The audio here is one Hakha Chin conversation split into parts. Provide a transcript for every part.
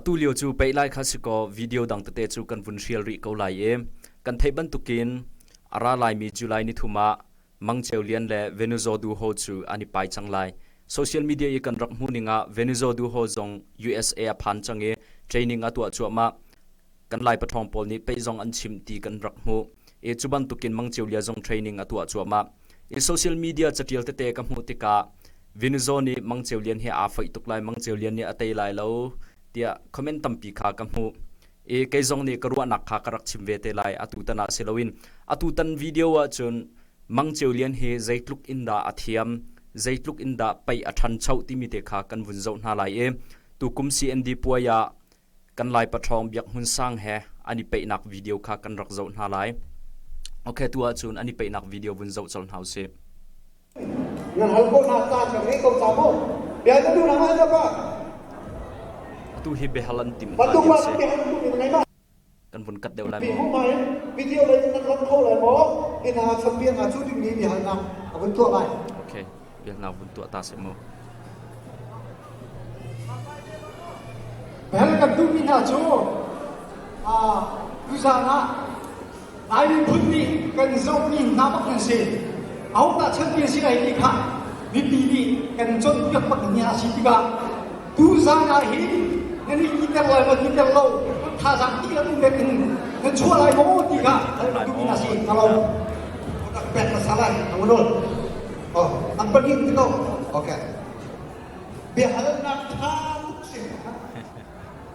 Atu lio cu pei lai kha si kaw video dang tete cu kan vun hrial rih ko lai i kan theih bantukin a ra laimi July nithum ah Mangceu Lian le Venuzo Du Ho cu an i pai cang lai. Social media i kan rak hmuh ning ah Venuzo Du Ho zong USA a phan cang i training a tuah cuahmah. Kan Lai paṭhawng pawl nih pei zong an chim ti kan rak hmuh i cu bantukin mangcio lia zong training a tuah cuahmah i social media caṭial tete ka hmuh tikah Vinizaw nih mangceu lian hi aa foih tuk lai, mangceu lian nih a tei lai lo tiah comment tampi kha ka hmuh i kei zong nih ka ruahnak kha ka rak chim ve te lai. Atutan ah si loin atutan video ahcun mangceu lian hi zeitluk in dah a thiam, zeitluk in dah pei a ṭhancho timi te kha kan vun zoh hna lai i tukum CND puai ah kan Lai paṭhawng Biak Hmun Sang he an i peihnak video kha kan rak zoh hna lai. Ok, tu ahcun an i peihnak video vun zoh colh hna usih. Nan hal ko hna caan kan ngei ko ca maw? Bia na nu na ngah na ka. Atu hi behal an tim hna hi a si. kan vun kat deuh lai maw? Pihu hmai video lei in na hlonh kho lai maw? Hi hna chanbia hna cu dingmi biahalnak a vun tuah lai. Okay, biahalnak vun tuah ta sih mu. Bel kan duhmi hna cu ah, tuzaan ah ai phun nih kan zohmi hna bak an si. Ahuk dah chanbia si lai ti kha mipi nih kan cawnpiak bak ni a si tikah Tuzaan ah hi na nih iter lai maw iter lo thazaang ti la ding in na chuah lai maw ti kha hal na duh na si na lo rak pek na sa lai na wano oh an pahnih ti to okay biahalnak tha tuk si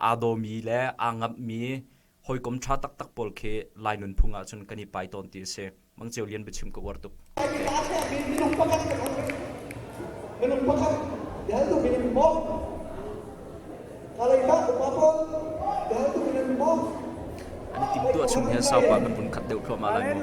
aa dawmi le aa ngamhmi hawikom ṭha taktak pawl khi Lai nunphung ah cun kan i pai tawn ti a si. Mang Ceu Lian biachim ka uar tuk. Minung pakhat kan um. Minung pakhat deltu min in bawm. Kaleika upa pawl deltu min in bawm. An i timtuah chung hian sau pa kan vun khat deuh thluahmah lai mu.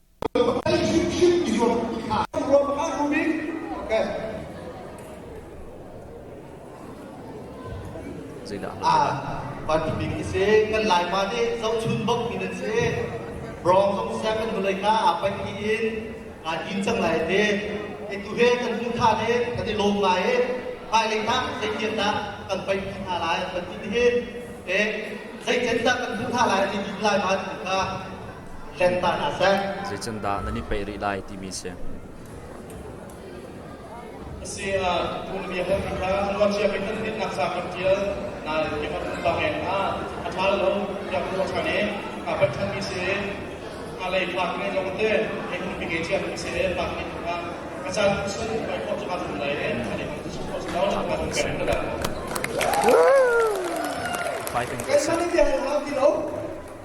Ei hrimhrim i zuam ti hlah. Ruam hlah rumin okay. Zeilah na ah, Pan Bik isi kan Laima nih zohchun bok mi nan si. Brong zong seven vawlei ka apa ni in kan in chang lai te. Etu he kan hmu tha ne kan i lom ngai e. Pai lei tak zei tian tak kan pai pi hna lai kan ti hi. Eh, zei chen tak kan hmu tha lai ti lai ma ka Zeicandah nan i peih rih lai timi a si. Fighting this.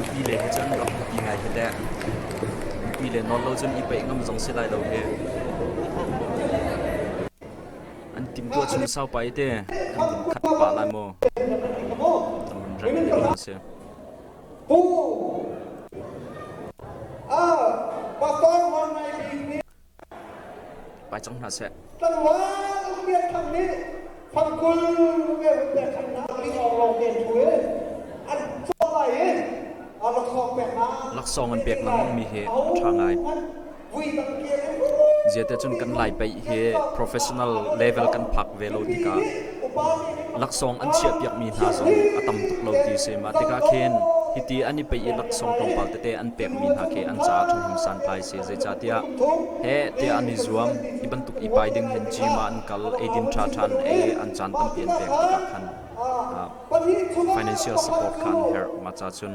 Nupi le he cun rak i ngai he teh. Nupi le nawl lo cun i peih ngam zong si lai lo he. An timtuah chung saupa i te kan khat pa lai maw? Tam rat ni lo si. Pai cang hna seh. Laksawng an pek lengmang mi hi a tha ngai. Ziatecun kan Lai pei hi professional level kan phak ve lo tikah laksawng an chiahpiakmi hna zong a tam tuk lo ti a si. Mah tikah khin hiti an i pei i laksawng tlawmpal tete an pekmi hna khi an caah ṭhahnem santlai a si. Zeicahtiah he tiah an i zuam. Hi bantuk i pai ding hin gym ah an kal, eidin ṭhaṭha an ei, an caan tampi an pek tikah khan financial support kha an herh. Mah ca cun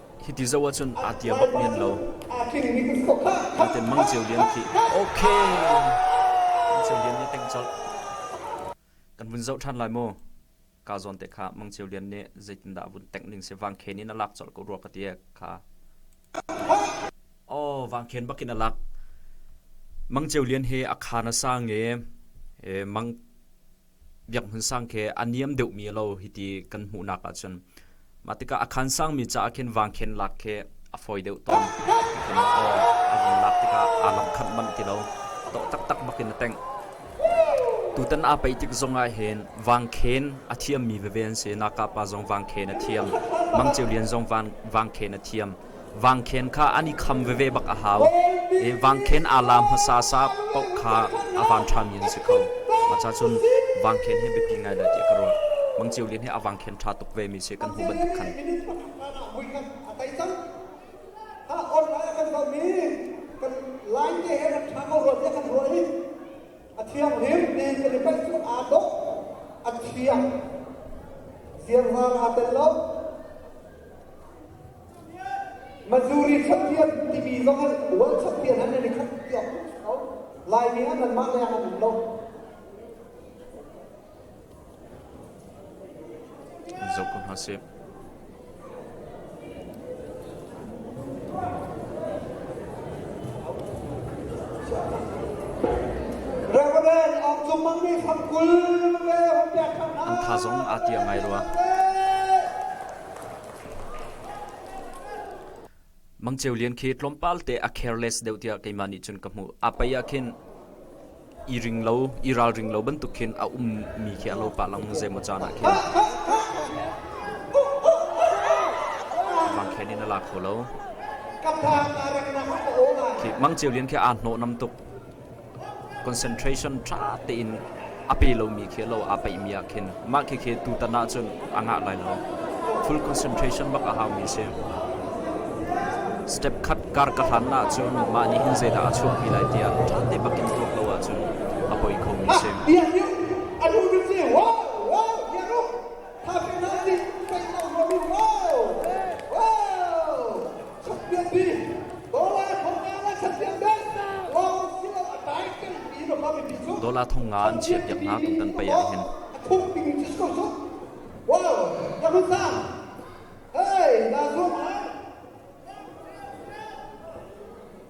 Hiti zoh ahcun aa tia bak men lo. Naten Mang Ceu Lian khi okay. Mang Ceu Lian nih teng colh. Kan vun zoh ṭhan lai maw? Ka zawn te kha Mang Ceu Lian nih zeitindah vun tengh ning se Vang Khen in a lak colh ko rua ka tiek kha. Oh, Vang Khen bakin a lak. Mang Ceu Lian he a khan a sang e, e Mang biakhmun sang khi a niam deuhmi lo hiti kan hmuhnak ahcun mah tikah a khan sangmi caah khin vangkhen lak khi a fawi deuh tawn tikhun aw a vun lak tikah aa lamkhat manh ti lo tawh taktak bakin a teng tutan aa paih tik zong ah hin vangkhen a thiammi veve an si naka pa zong vangkhen a thiam mangceu lian zong vangkhen a thiam vangkhen kha an i kham veve bak a hau i vangkhen aa la hmasa sa paoh kha a van ṭhami an si kho. Mah cun vangkhen hi biapi ngai lai tiah ka ruah. Mang Ceu Lian hi a vangkhen ṭha tuk vemi si kan hmuh bantuk khan. Line te he rak ṭha ko rua tiah kan ruah i a thianghlim ti kan i paih cu aa dok a thiang ziarhang aa tel lo Mazuri champion timi zong ah world champion an ni khat piak kho Laimi ah nan mah leng an um lo zoh ko hna sih. An tha zong aa tia ngai rua. Mangceu lian khi tlawmpal te a careless deuh tiah keimah nih cun ka hmuh. A pei ah khin i ring lo, i ralring lo bantuk khin a ummi khi a lo pah lang zei maw caan ah khin vangkhen in a la kho lo. Khi mangceu lian khi aa hnawhnam tuk. concentration ṭha tein a pe lomi khi a lo aa peihmi ah khin mah khikhi tutan ahcun a ngah lai lo. Full concentration bak a haumi a si. Step khat kar ka hlan ahcun mah nih hin zeidah a chuahpi lai tiah ṭha te bak in tuak lo ahcun a poi khomi a si. Dola thong nga an chiah piak hna tung kan pei ah hin. Hey, na zung ah.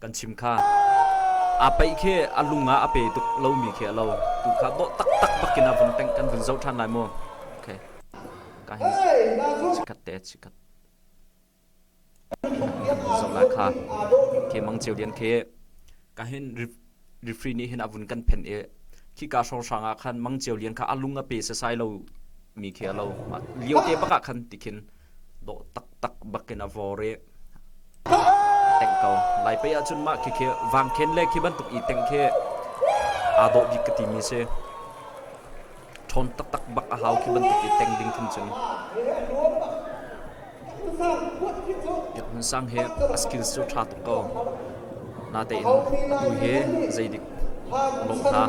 kan chim kha aa peih khi a lung ah a pe tuk lomi khi a lo tu kha dawh taktak bakin a vun kan vun zoh ṭhan lai maw okay ka hin chikhat te chikhat zoh lai kha ke mang ceu lian khi ka hin Mifri nih hin a vun kan phenh i khika hrawnghrang ah khan mangcio lian kha a lung a pe sasai lo mi khi a lo lio te bak ah khan tikhin dawh taktak bakin a vawr i tengh ko lai pei ahcun mah khi khi vangkhen le khi bantuk i teng khi aa dawh bik ka ti mi si ṭhawn taktak bak a hau khi bantuk i teng ding khin cun Biak Hmun Sang he a skills cu ṭha tuk ko. Natein a tu he zeidik a lawh kha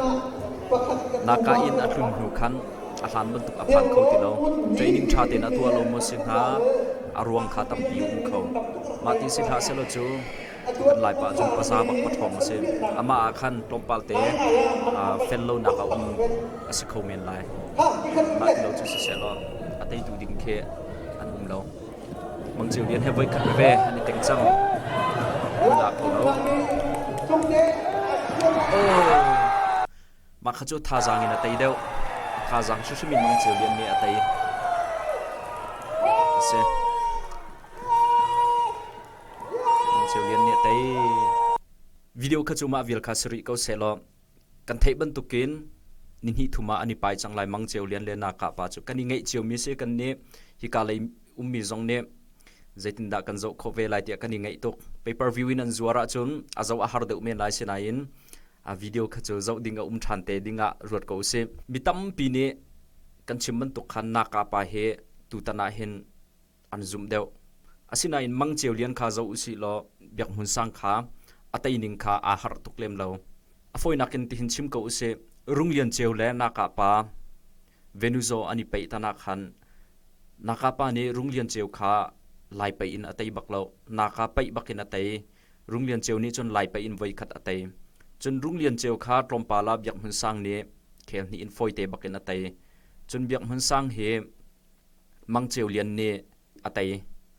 naka in a tlun hnu khan a hlan bantuk a phan kho ti lo training ṭha tein a tuah lo maw si hnga a ruang kha tampi um kho mah ti si hlah selaw cu Laipa cu hmasa bak pawṭhawng a si. Amah ah khan tlawmpalte fel lonak a um a si kho men lai. Mah ti lo cu sisehlaw a teitu ding khi an um lo. Mang Ceu Lian he voi khat veve an i teng cang. An lak lo. Oh. Mah kha cu thazaang in a tei deuh. A thazaang hrimhrim in mangceu lian nih a tei. A si. Mangceu lian nih a tei. Video kha cu mah vial kha si rih ko sehlaw kan theih bantukin ni hnih thum ah an i pai cang lai mangceu lian le nakah pa cu. Kan i ngeih cio mi si kan nih hika lei ummi zong nih zeitindah kan zoh khawh ve lai tiah kan i ngeih tuk. Pay per view in an zuar ahcun a zoh a har deuh men lai si nain a video kha cu zoh ding a um ṭhan te ding ah ruat ko usih. Mi tampi nih kan chim bantuk khan Naka pa hi tutan ah hin an zumh deuh. Asinain mangceu lian kha zoh usih law biakhmun sang kha a teining kha aa harh tuk lem lo. A fawinak in tihin chim ko usih, Rung Lian Ceu le Naka pa Venuzaw an i peih tanak khan Naka pa nih Rung Lian Ceu kha lai pei in a tei bak lo. Naka peih bak in a tei. Rung Lian Ceu nih cun lai pei in voikhat a tei. Cun Rung Lian Ceu kha tlawmpal ah Biak Hmun Sang nih khel hnih in fawite bakin a tei. Cun Biak Hmun Sang hi Mang Ceu Lian nih a tei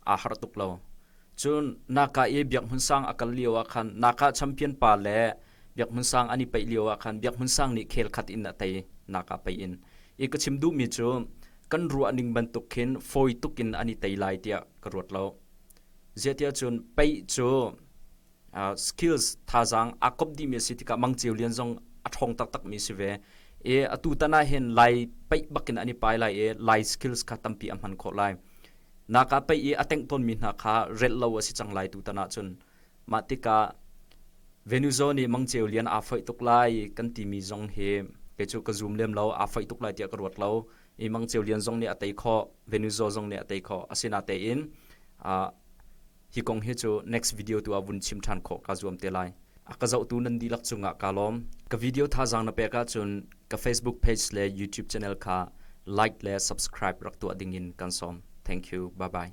aa harh tuk lo. Cun naka i Biak Hmun Sang a kal lio ah khan naka champion pa le Biak Hmun Sang an i peih lio ah khan Biak Hmun Sang nih khel khat in a tei naka pei in. I ka chim duhmi cu kan ruah ning bantuk khin fawi tuk in an i tei lai tiah ka ruat lo. Zeitiahcun pei cu uh, skills thazaang aa komh dihmi a si tikah Mang Ceu Lian zong a ṭhawng taktakmi si ve. I a tutan ah hin Lai paih bakin an i pai lai i Lai skills kha tampi a hman khawh lai. Naka pei i a tengh tawnmi hna kha relh lo a si cang lai tutan ahcun. Mah tikah Venuzo nih Mang Ceu Lian aa foih tuk lai kan timi zong hi kei cu ka zum lem lo, aa foih tuk lai tiah ka ruat lo. i Mang Ceu Lian zong nih a tei khawh, Venuzo zong nih a tei khawh. Asinatein ah hi kong hi cu next video tu ah vun chim ṭhan khawh kaa zuam te lai. A ka zohtu nan dihlak cungah kaa lawm. Ka video thazaang na pek ahcun ka Facebook page le YouTube channel kha like le subscribe rak tuah dingin kan sawm. Thank you. Bye-bye.